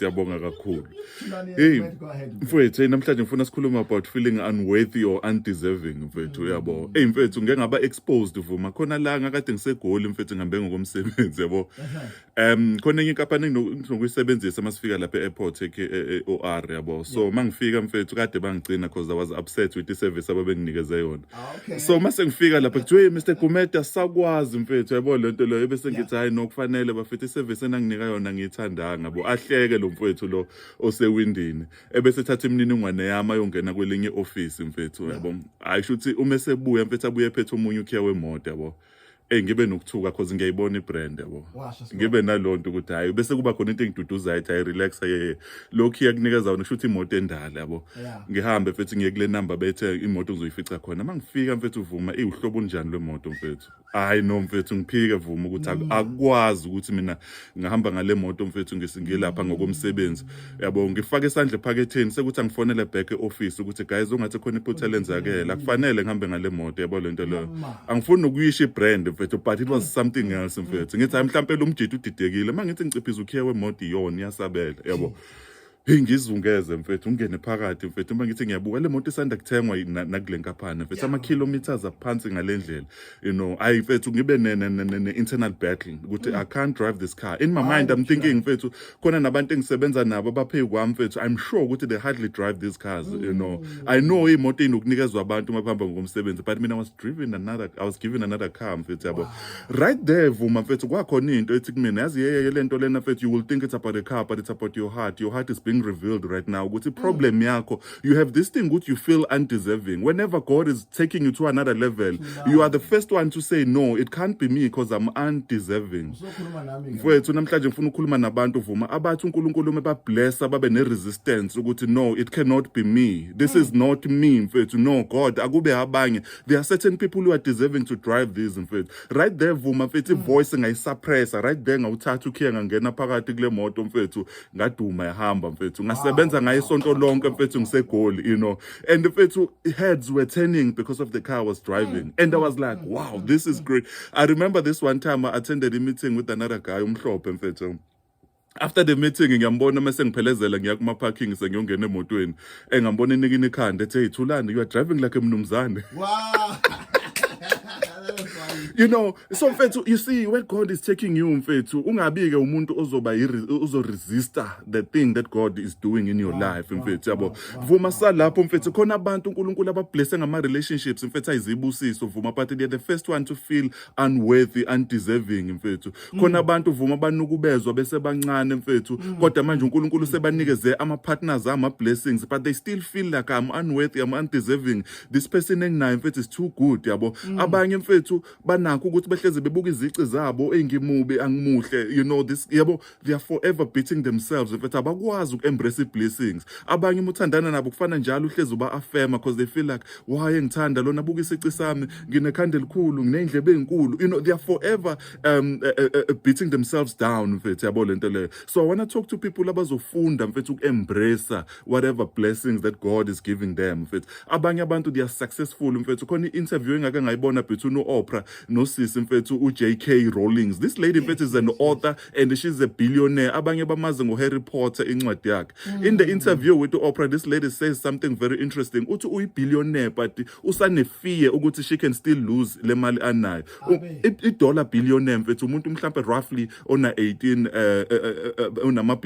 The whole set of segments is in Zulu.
Siyabonga kakhulu. Hey, mfethu, namhlanje ngifuna sikhulume about feeling unworthy or undeserving mfethu, uyabo. Hey mfethu, ngeke ngaba exposed vuma. Khona la ngakade ngisegoli mfethu ngihambe ngokomsebenzi, yabo. Um khona enye inkampani enginokuyisebenzisa masifika lapha e-airport e-OR, e, e, yabo. So mangifika mfethu kade bangigcina because I was upset with the service ababenginikeze yona. Ah, okay. so uma sengifika lapha kuthiwa "Hey, mr gumeda sakwazi mfethu yabo le nto leyo ebese ngithi hhayi nokufanele bafethu isevisi enanginika yona ngiyithandanga bo ahleke lo mfethu lo osewindini ebese ethatha imininingwane yami ayongena kwelinye i-ofisi mfethu yabo hhayi sho ukuthi uma esebuya mfethu abuye ephethe omunye ukhiya wemoto yabo Ey ngibe nokuthuka because ngiyayibona ibrand yabo. Washa sibona. Ngibe nalonto ukuthi hayi bese kuba khona into engiduduzayo ethi hayi relax ye. Lokhu iyakunikeza wona kusho ukuthi imoto endala yabo. Yeah. Ngihambe mfethu ngiye kule number bethe imoto ngizoyifica khona. Mangifika mfethu uvuma iwuhlobo unjani lwemoto mfethu. Hayi no mfethu ngiphike vuma ukuthi ak- akwazi ukuthi mina ngihamba ngale moto mfethu ngisingilapha ngokomsebenzi yabo ngifake isandla ephaketheni sekuthi angifonele back e-office ukuthi guys ungathi khona iphutha lenzakele akufanele ngihambe ngale moto yabo le nto leyo angifuni nokuyisha ibrand mfethu but it was something else mfethu ngithi hayi mhlawumpe lo mjita udidekile uma ngithi ngiciphiza ukhiye wemoto iyona iyasabela yabo Hey ngizungeze mfethu ungene phakathi mfethu uma ngithi ngiyabuka le moto isanda kuthengwa nakule nkaphana mfethu ama kilometers aphansi ngalendlela you know ayi mfethu ngibe ne ne internal battle ukuthi i can't drive this car in my mind i'm thinking mfethu khona nabantu engisebenza nabo abaphe kwami mfethu i'm sure ukuthi they hardly drive these cars you know mm. i know imoto inokunikezwa abantu uma bahamba ngokomsebenzi but mina was driven another i was given another car mfethu yabo Right there Vuma mfethu kwakhona into ethi kumina yazi yeyeke lento lena mfethu you will think it's about a car but it's about your heart your heart is being revealed right now ukuthi mm. problem yakho you have this thing ukuthi you feel undeserving whenever God is taking you to another level you are the first one to say no it can't be me because I'm undeserving mfethu namhlanje ngifuna ukukhuluma nabantu Vuma abathi uNkulunkulu uma bablessa babe ne resistance ukuthi no it cannot be me this mm. is not me mfethu no God akube abanye there are certain people who are deserving to drive these mfethu right there vuma mfethu mm. ivoice ngayisuppressa right there ngawuthatha ukhiya ngangena phakathi kule moto mfethu ngaduma yahamba mfethu ngasebenza ngayo isonto lonke mfethu ngisegoli you know and mfethu heads were turning because of the car I was driving mm. and I was like mm. wow this is great I remember this one time I attended a meeting with another guy umhlophe mfethu after the meeting ngiyambona uma sengiphelezela ngiya kuma parking sengiyongena emotweni engambona enikini ikhanda ethe ithulani you are driving like a mnumzane wow you know so mfethu you see where god is taking you mfethu ungabike umuntu ozoba uzo resistor the thing that god is doing in your life mfethu yabo vuma salapho mfethu khona abantu uNkulunkulu abablesse ngama relationships mfethu ayizibusiso vuma but they are the first one to feel unworthy undeserving mfethu khona abantu vuma banukubezwa besebancane mfethu kodwa manje uNkulunkulu sebanikeze ama partners ama blessings but they still feel like I'm unworthy I'm undeserving this person enginayo mfethu is too good yabo abanye mfethu banakho ukuthi behleze bebuka izici zabo engimubi angimuhle you know this yabo they are forever beating themselves mfethu abakwazi uku embrace i blessings abanye umuthandana nabo kufana njalo uhleze uba affirma because they feel like why engithanda lona buka isici sami nginekhandela elikhulu nginendlebe ezinkulu you know they are forever um uh, uh, uh, beating themselves down mfethu yabo lento leyo so i want to talk to people abazofunda mfethu uku-embrace whatever blessings that god is giving them mfethu abanye abantu they are successful mfethu khona i-interview engake ngayibona between u-opra nosisi mfethu u-jk rollings this lady mfethu is an author and she's a billionaire abanye bamazi ngoharry potter incwadi yakhe mm. in the interview with u-opra this lady says something very interesting uthi uyi-billionaire but usanefear ukuthi she can still lose le mali anayo idollar billionaire mfethu umuntu mhlampe roughly ona 18 eh, eh, eh, unama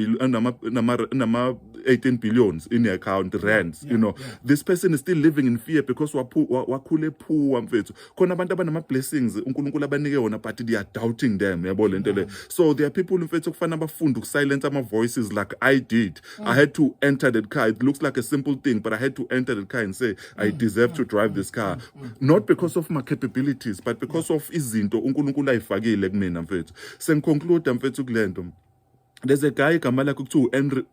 nama 18 billions in the account rands you know this person is still living in fear because wakhule poor mfethu khona abantu abanama blessings uNkulunkulu abanike wona but they are doubting them yabo lento le so there are people mfethu kufana abafunde ukusilence ama voices like i did i mm. had to enter that car it looks like a simple thing but i had to enter that car and say i mm. deserve to drive this car mm. Mm. not because of my capabilities but because of izinto uNkulunkulu ayifakile kumina mfethu sengiconclude mfethu kulento there's a guy igama lakhe kuthiwa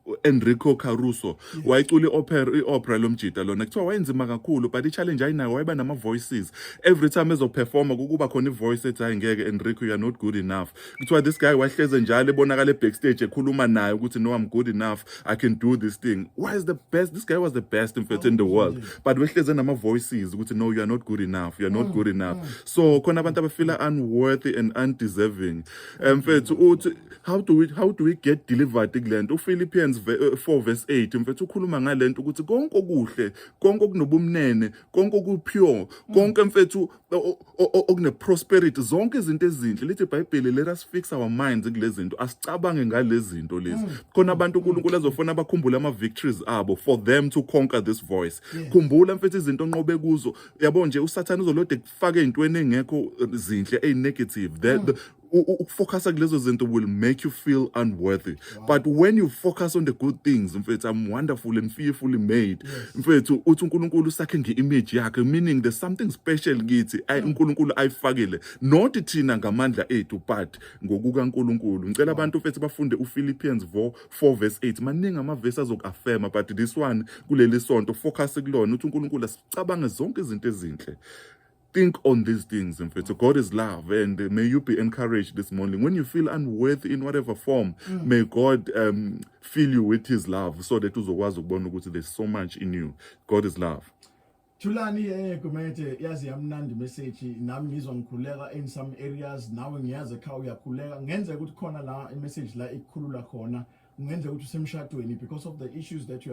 u-enrico caruso wayecula i-opera i-opera lomjita lona kuthiwa wayenzima kakhulu but i-challenge ayinayo wayeba nama-voices every time ezoperforma kukuba khona i-voice ethi hayi ngeke enrico you're not good enough kuthiwa this guy wahleze njalo ebonakala ebackstage ekhuluma naye ukuthi no I'm good enough I can do this thing why is the best this guy was the best in fact in the world but wehleze nama voices ukuthi no you are not good enough you are not good enough so khona abantu abafila unworthy and undeserving mfethu uthi how do we how do we get delivered kulento uPhilippians 4 eh, verse 8 mfethu ukhuluma ngalento ukuthi konke okuhle konke okunobumnene konke okupure konke mfethu okuneprosperity zonke izinto ezinhle lithi ibhayibheli let us fix our minds kulezi zinto asicabange ngalezi zinto lezi mm. khona abantu mm. unkulunkulu azofuna bakhumbule ama-victories abo for them to conquer this voice khumbula mfethu izinto onqobe kuzo yabo nje usathane uzolode kufake ey'ntweni engekho zinhle eyi-negative mm. ukufocusa kulezo zinto will make you feel unworthy wow. but when you focus on the good things mfethu i'm wonderful and fearfully made mfethu yes. uthi uNkulunkulu sakhe ngeimage yakhe meaning there's something special kithi ay hmm. uNkulunkulu ayifakile not thina ngamandla ethu but ngokuka uNkulunkulu ngicela abantu mfethu bafunde uPhilippians 4 verse 8 maningi amavesi azokuaffirma but this one kuleli sonto focus kulona uthi uNkulunkulu asicabange zonke izinto ezinhle Think on these things, in fact. So God is love, and may you be encouraged this morning. When you feel unworthy in whatever form, mm. may God um, fill you with His love, so that uzokwazi ukubona ukuthi there's so much in you. God is love. Thulani eh Gumede yazi yamnandi message nami ngizwa ngikhuleka in some areas nawe ngiyazi ekhaya uyakhuleka ngenze ukuthi khona la i message la ikukhulula khona ngenze ukuthi usemshadweni because of the issues that you